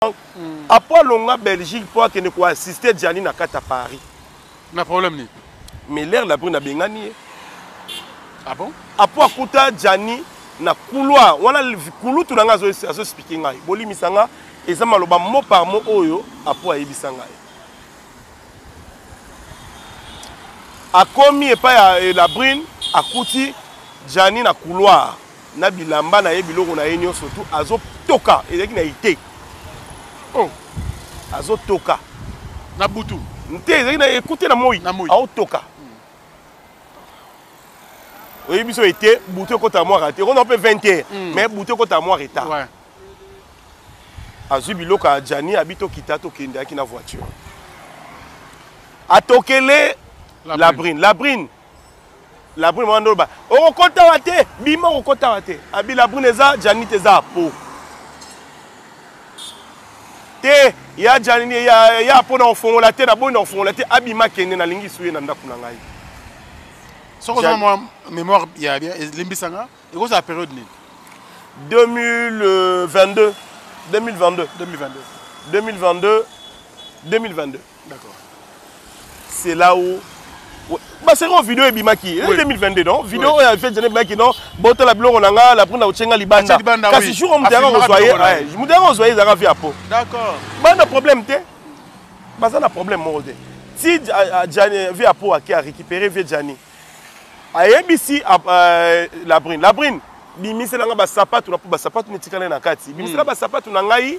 Franck mm. après alonga Belgique mpo akende ko assister Gianni na kati ya Paris na problème nini mais l'air la brune abengani ye ah bon apo akuta Gianni na couloir wana kulutu na ngai azospike ngai bolimisa ngai eza maloba mot par mot oyo apo ayebisa ngai akomi epai ya eh, la brune akuti Gianni na couloir na bilamba na ye biloko na ye nyonso tu azotoka ezalaki na ete oh. azotoka na butu te ezalaki na ekute na moi aotoka hmm. oyebi biso ete butu ekota mwa rete ekona mpe 20 heure hmm. mais butu ekota mwa retard ouais. azwi biloko ya jani abi tokita tokendaki na voiture atokele labrine labrine la La brune mwana ba okokota wa te bima okokota wa te abi la brune eza janit eza po te ya janini ya ya po na ofongola te na boyi na ofongola te abima kende na lingi suye na ndaku na ngai soko za mwa mémoire ya bien limbisa nga ekozala période nini 2022 2022 2022 2022 2022 c'est là où baseki oyo video ebimaki 2022 non video oyo afeti jana ebimaki non botala biloko na nga lapre na kotyenga libanda kasi jour oyo moto yaka kozwa ye moto yaka kozwa ye ezalaka vi ya po bana problème te baza na problème moko te ti vi ya po ake arécupéré vie jani ayebisi euh, labrine labrine bimiselanga basapatu na po basapatu netikala na kati bimisela basapatu na ngai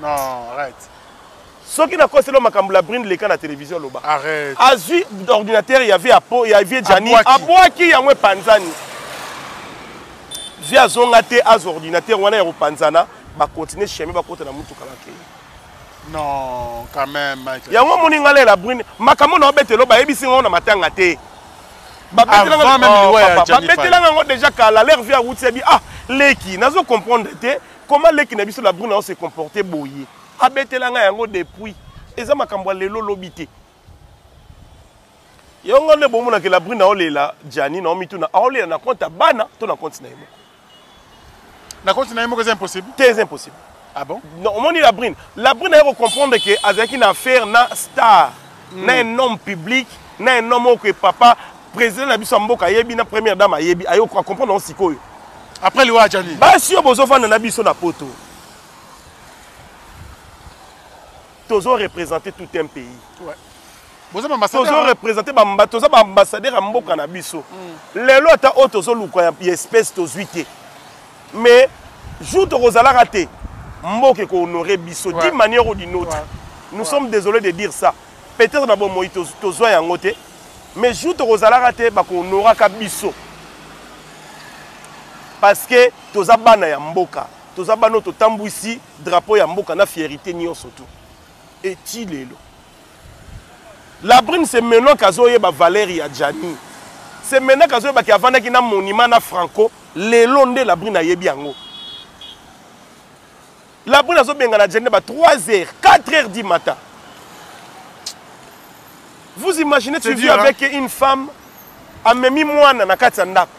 Non, arrête. soki nakosi lo makambo la brine leka na televizio aloba azwi ordinatere ya vie apo ya vie jani abwaki yango epanzani vie azonga te azwa ordinatere wana ya kopanzana bakontinue chemin bakota na motuka bakei non quand même yango omoni ngai lela brune makambo na obetelo bayebisi ngai na matanga te babetelanga yango deja kala ler vie awuti abi ah leki nazo comprendre te Comment leki na biso la brune a se comporter boye? Abetela nga yango depuis. Eza makambo ya lelo lobi te. Yango nga nde bomona ke la brune aolela Gianni na omituna aolela na compte ya bana to na compte na ye moko. Na compte na ye moko eza impossible? Te eza impossible. Ah bon? Non, omoni la brune. La brune aye ko comprendre ke azalaki na affaire na star. mm. na un homme public na un homme oyo papa président na biso ya mboka ayebi na première dame ayebi ayo acomprendre yango sikoyo après liwa ajani basi oyo bozofanda na biso na poto tozo représenter tout un pays ouais. tozo représente toza baambassadeur ya mboka na biso mm. lelo ata oyo tozoluka ya espèce tozwi te mais jour tokozalaka te mboka ekohonore biso ouais. d'une manière ou d'une autre ouais. nous ouais. sommes désolés de dire ça peut-être na bomoi tozwa yango te mais jour tokozalaka te bakohonoraka biso parce que toza bana ya mboka toza bana oyo totambwisi drapeau ya mboka na fierité nyonso tu eti lelo La brune c'est maintenant kazoyeba valeur ya Gianni. C'est maintenant kazoyeba ki avandaki na monument na Franco, lelo nde la brune ayebi yango. La brune azobenga na Gianni ba 3 heures, 4 heures du matin. Vous imaginez tu vis avec une femme amemi mwana na kati ya ndako.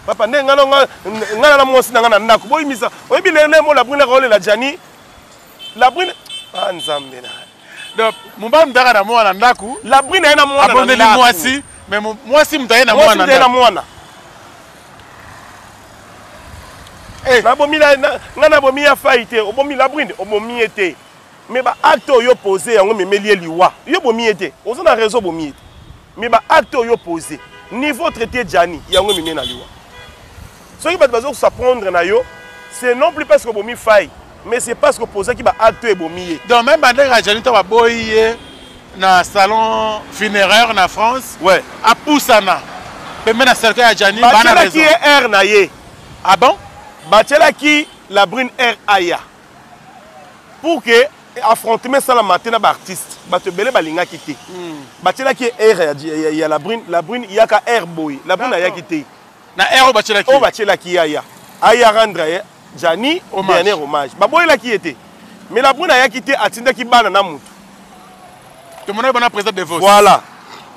Papa nde ngana ngana na mwasi na ngana ndako. Boyimisa. Oyebi lelo mo la brune akolela Gianni la brune ah nzambe na donc mobali moto ayaka na mwana na ndako la brune aye na mwana abondeli mwasi mais mwasi moto aye na mwana na mwana eh. nabomi nga nabomi ya fai te obomi la brune obomi ye te mais baacte oyo pose yango memeli ye liwa yo obomi ye te oza na réseau obomi ye te mais baacte oyo pose niveau traité jani yango ememi na liwa Soki bato bazo sa prendre na yo, c'est non plus parce que bomi faille, mais c'est parce que posaki ba actes ebomi ye. Donc même bande ka Janita ba boyi ye na salon funéraire na France. Ouais. A poussana. Pembe na cercueil ya Janita ba na raison. Ba ki air na ye. Ah bon? Ba ki la brune air aya. Pour que affrontement ça la matin na ba artiste. Ba te belé ba linga ki te. Hmm. Ba ki air ya ya la brune, la brune yaka air boy. La brune aya ki te. na heure batielaki oyo batielaki yaya aya rendre ye jani dernier hommage baboyelaki ye te mais la brune ayaki te atindaki bana na motu tomonaki bana président de vote voilà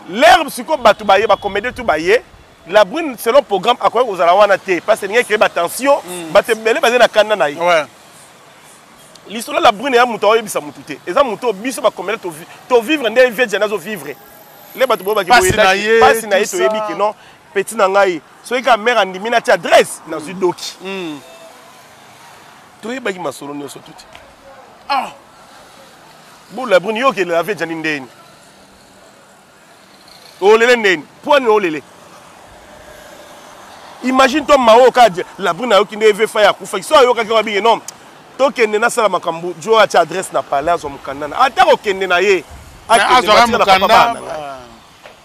l'herbe sikoyo bato baye bacomédie tu baye la brune selon programme akoki kozala wana te parce que elingi créer batension mm. bato ebele bazali na kanda na ye lisolo la brune ya moto aoyebisa motu te eza moto oyo biso bacomédie tovivre nde vie jani azovivre le bato boyebaki boyepasi na ye toyebi ke non Petit na ngai, soki ka mère andimi na ti adresse, na zui doki. Mm. Toi baki masolo nioso tuti. Ah. Bon la brune yo ke la vie jani ndeni. Olele ndeni, poani olele. Imagine toi Mao Kadje, la brune ayoki nde vefa ya kufa. Kiso ayoka kwa bingi non. Tokende nasala makambo, jo atia adresse na palais azo mukanda na. Ata kokende na ye. Akende na mukanda.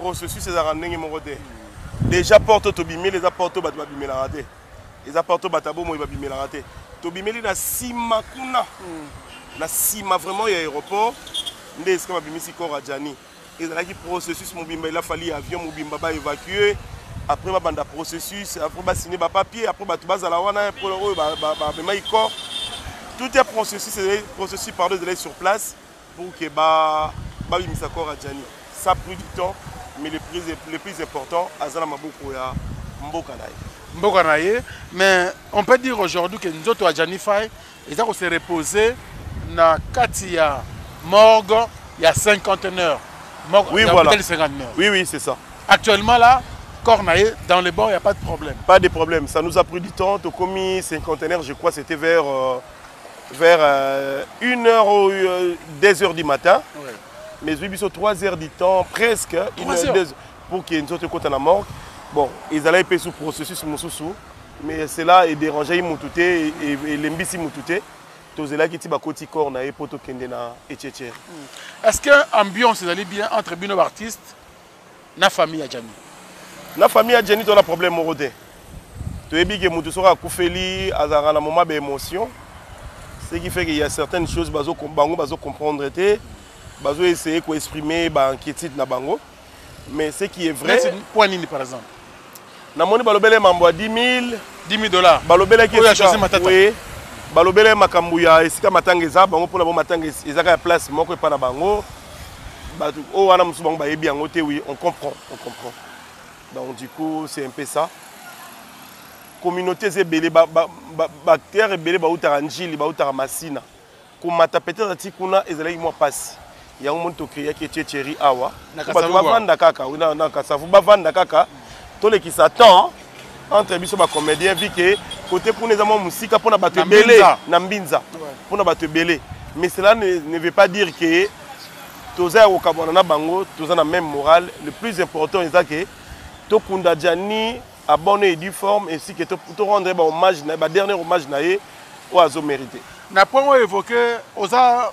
Processus ezalaka ndenge moko te. Deja porte oyo tobimeli eza porte oyo bato babimelaka te. Eza porte oyo bato ya bomoi babimelaka te. Tobimeli na nsima kuna. Hmm. Na nsima vraiment ya aéroport nde esika babimisi corps ya Gianni. Ezalaki processus mobimba il a fallu avion mobimba ba évacuer après babanda processus après basine bapapier après bato bazala wana mpo oyo bamemaki corps tout ya processus processus pardon ezalaki sur place pour que ba babimisa corps ya Gianni ça pris du temps mais le plus, le plus important aza na maboko ya mboka na ye mboka na ye mais on peut dire aujourd'hui que nzoto ya Gianni Faye eza ko se reposer na kati ya morgue il y a 50 heures. Oui, voilà. Oui, oui, c'est ça. Actuellement, là, Cornaille, dans les bords, il n'y a pas de problème. Pas de problème. Ça nous a pris du temps. Au commis cinquantenaire, je crois, c'était vers euh, vers euh, 1 heure ou 2 euh, heures du matin ouais. mais ezwi biso 3 heures du temps presque une heure, deux, pour que nzoto ekota na morgue bon ezalaki mpe sous processus mosusu mais cela edérangei motu te e, e, elembisi motu te tozelaki ti bakoti corps na ye mpo tokende na etietiere hmm. est ce que ambiance ezali bien entre bino baartiste na famille ya Djani na famille ya Djani to na problème moko te toyebi ke mutu soki akufeli azalaka na moment ba émotion ce qui fait qu'il y a certaines choses bazo bango bazo comprendre te bazo essayer ko exprimer ba inquiétude na bango mais ce qui est vrai point nini par exemple namoni balobele mambo ya 10000 10000 dollars balobelaki oyo Jose Matata oui balobele makambo ya esika matanga eza bango mpona bo matanga ezaka ya place moko epa na bango bato oyo wana mosusu bango bayebi yango te oui on comprend on comprend donc du coup c'est un peu ça communauté eza ebele baacteur ebele bautaka njili bautaka masina komata peut-être ti kuna ezalaki mwa pasi yango moni tokreaki etie cheri awa bato bavanda kaka na kasavu bavanda kaka tolekisa temps entre biso bacomédien vi ke kote kuna eza mwa mosika mpo na bato ebele na mbinza mpo na bato ebele mais cela ne, ne veut pas dire ke toza ya kokabwana na bango toza na même morale le plus important eza ke tokunda jani A bonne et due forme ainsi que to, to rendre ba hommage na ba dernier hommage na ye oyo azo merite. Na point oyo évoqué oza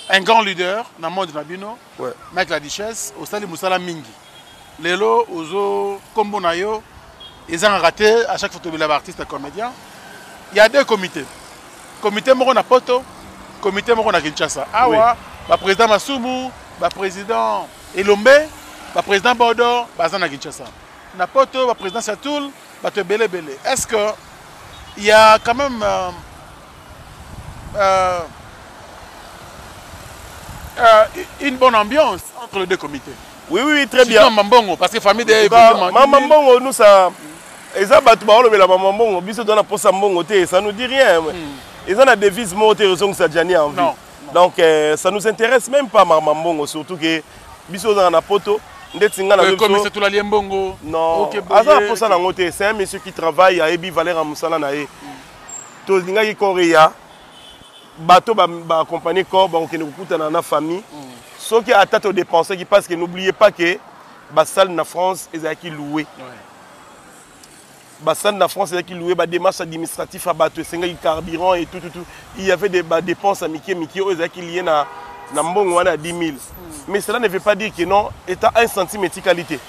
un grand leader na monde na bino ouais. mec la duchesse osali musala mingi lelo ozo kombo na yo ezangaka te à chaque fois tobela ba artiste comédien il y a deux comités comité moko na poto comité moko na kinshasa awa oui. baprésident masumu baprésident elombe baprésident bodo baza na kinshasa Na poto ba presidence ya toul bato ebele ebele est ce que il y a quand même euh, euh, euh, une bonne ambiance entre les deux comités. Oui, oui, très bien. Maman Bongo, parce que famille des bah, Maman Bongo, nous, ça. eza bato baolobela mama mbongo biso toza na posa mbongo te ça nous dit rien hmm. eza na devise moko te ezongisa jani envie donc euh, ça nous intéresse même pas mama mbongo surtout que biso ozala na poto ndeti nga nakomisa tolali ye mbongo non aza na mposa na yango te c'est un monsieur qui travaille ayebi valeur ya mosala na ye tolingaki koreya bato baakompagne corps bakokende kokutana na famille mm. soki ata todépensaki parce que n'oubliez pas que basale na france ezalaki loue ouais. Basani na France ezalaki loue ba démarche administratif ya bato esengaki carburant et tout, tout, tout. Il y avait des ba dépenses ya mike mike oyo ezalaki liye na, na mbongo wana ya 10 000 mais cela ne veut pas dire que non eta un centime etikali te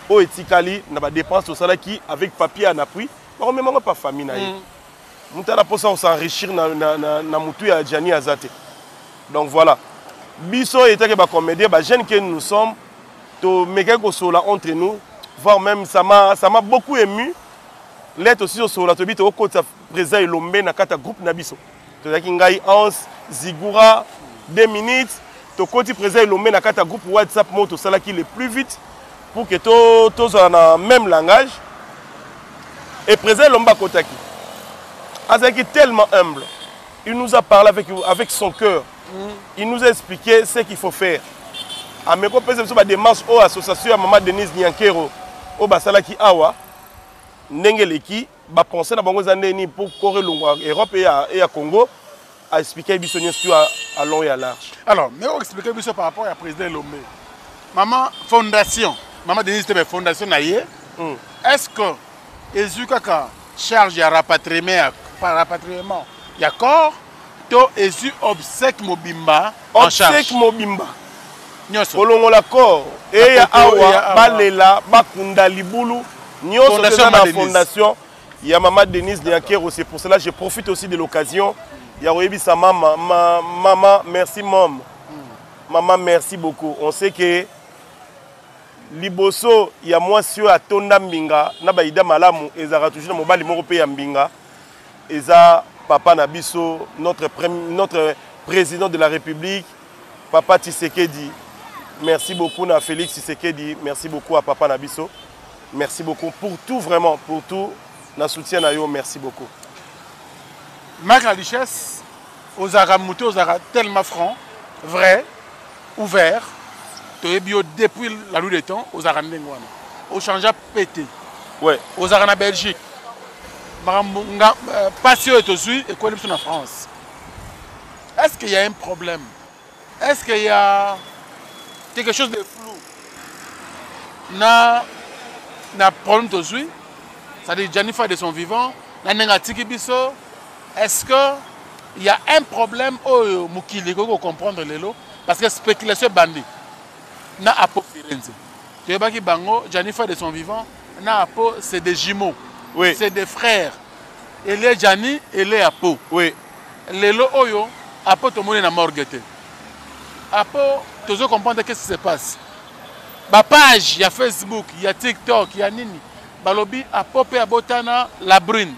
oyo etikali na ba dépenses tosalaki avec papier en appui bakomema yango pa famille na ye mm. moto ana mposa kosenrichir na, na, na, na motu ya jani aza te donc voilà biso etake bacomédien bajeune ke nous sommes To mekaki ko sola entre nous, voir même ça m'a ça m'a beaucoup ému. Là to siso sola to bito ko tsa président Elombe na kata groupe na biso. To zaki ngai Hans Zigura 2 minutes to koti président Elombe na kata groupe WhatsApp moto sala ki le plus vite pour que to to zala na même langage. Et président Elombe akotaki. Azaki tellement humble. Il nous a parlé avec avec son cœur. il nous a expliqué ce qu'il faut faire ameki ah, opesa biso badémarche oyo oh, association ya mama denise niankero oyo oh, basalaki awa ndenge eleki bapense na bango eza nde nini mpo kore elongwa europe e ya congo aexplike biso nyonso à long et à large alors mais oexplike biso par rapport ya président elombe mama fondation mama denise tebe fondation na ye hmm. est ce que ezwi kaka charge ya rapatriement ya rapatriement ya corps to ezwi obsèque mobimba en charge obsèque mobimba nyonso kolongola corps eya awa balela bakunda libulu nyonso eza na fondation ya mama denise niakero c'est pour cela je profite aussi de l'occasion ya koyebisa mama ma, mama merci mom mama merci beaucoup on sait que liboso ya mwasi oyo atonda mbinga na baida malamu ezalaka toujours na mobali moko mpe ya mbinga Eza papa na biso notre notre président de la République papa Tshisekedi. Merci beaucoup na Félix Tshisekedi, merci beaucoup à papa na biso. Merci beaucoup pour tout vraiment pour tout na soutien na yo merci beaucoup. Marc la richesse ozalaka moto ozalaka tellement franc vrai ouvert toyebi yo depuis la lue de temps ozalaka ndenge wana ochangea pete ouais ozalaka na belgique makambo nga euh, pasi oyo tozwi ekweli biso na france est ce qu'il y a un problème est ce qu'il y a quelque chose de flou na na problème tozwi c'est-à-dire janifa de son vivant na ndenge atiki biso est ce que il y a un problème oyo mokili ekoki kocomprendre lelo parce que spéculation ebandi na Apo Firenze. Toyebaki bango Janifa de son vivant na Apo c'est des jumeaux. Oui. C'est des frères. Ele Jani, ele Apo. Oui. Lelo oyo Apo tomoni na morgue te. Apo tozo comprendre qu'est-ce qui se passe. Ba page ya Facebook, ya TikTok, ya nini balobi Apo pe abotana la brune.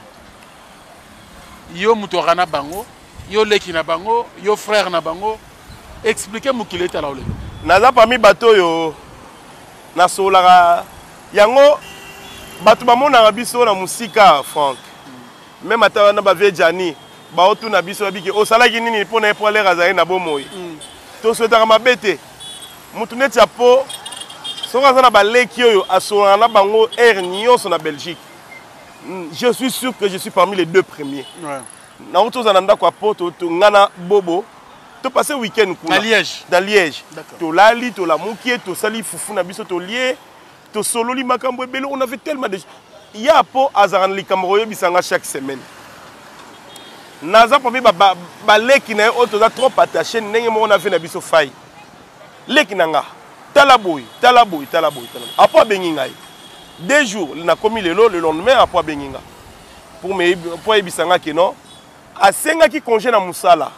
Yo mutu na bango, yo leki na bango, yo frère na bango, expliquer mokili etala yo lelo naza parmi bato oyo nasololaka yango bato bamonaka biso na mosika frank meme ata wana bavie jani baotuna biso babiki osalaki nini mpo na ye mpo alere azali na bomoi mm. toswetaka mabe te motu neti ya po soki aza na baleki oyo asololaka na bango heure nyonso na belgique mm, je suis sûr que je suis parmi les deux premiers ouais. Nauti ozala na ndako ya poto to nga na bobo to passe week-end kuna na liège, na liège. tolali tolamuki tosali fufu na biso tolie tosololi makambo ebele on avait tellement de ya po azalaka na likambo koyebisa nga chaque semaine naza parmi baleki na ye oyo toza trop attaché ndenge moko na vie na biso fai leki na nga tala boye tala boye tala boye tala boye apo abengi ngai deux jours nakomi lelo le lendemain apo abengi nga pour me pour ayebisa nga que non asengaki congé na musala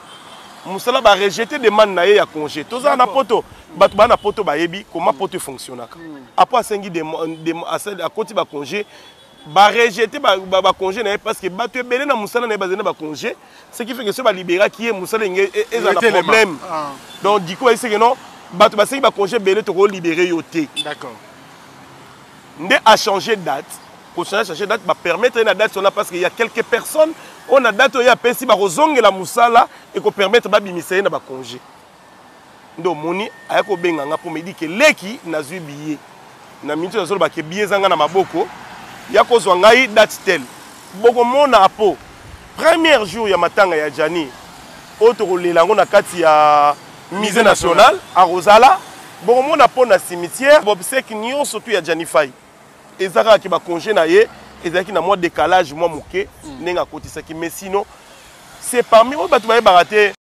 musala ba rejeter demande na ye ya congé toza na poto bato baa na poto bayebi comment poto efonctionnaka hmm. apo asengi akoti bacongé barejete bacongé na ye parce que bato ebele na mosala na ye bazali na bacongé ce qui fait que soki baliberaki ye mosala enge e, eza na problème ah. donc diko ayiseke non bato basengi bacongé ebele tokolibere yo te nde a changer date kosana changer date ba permettre ye na date wana parce que ya quelques personnes oyo na date oyo ye apesi bakozongela mosala eko permettre babimisa ye na ba congé nde omoni aya kobenga nga mpo medi ke leki nazwi biye na miniti oyo nazoloba ke biye eza nga na maboko ya kozwa ngai date tel bokomona apo première jour ya matanga ya jani oyo tokolela yango na kati ya musée national akozala bokomona mpo na cimetière bobseki nyonso tu ya janifai eza kaka ke baconge na ye ezalaki na mwa décalage mwa moke hmm. ndenge akotisaki mais sino c'est parmi oyo bato bayebaka te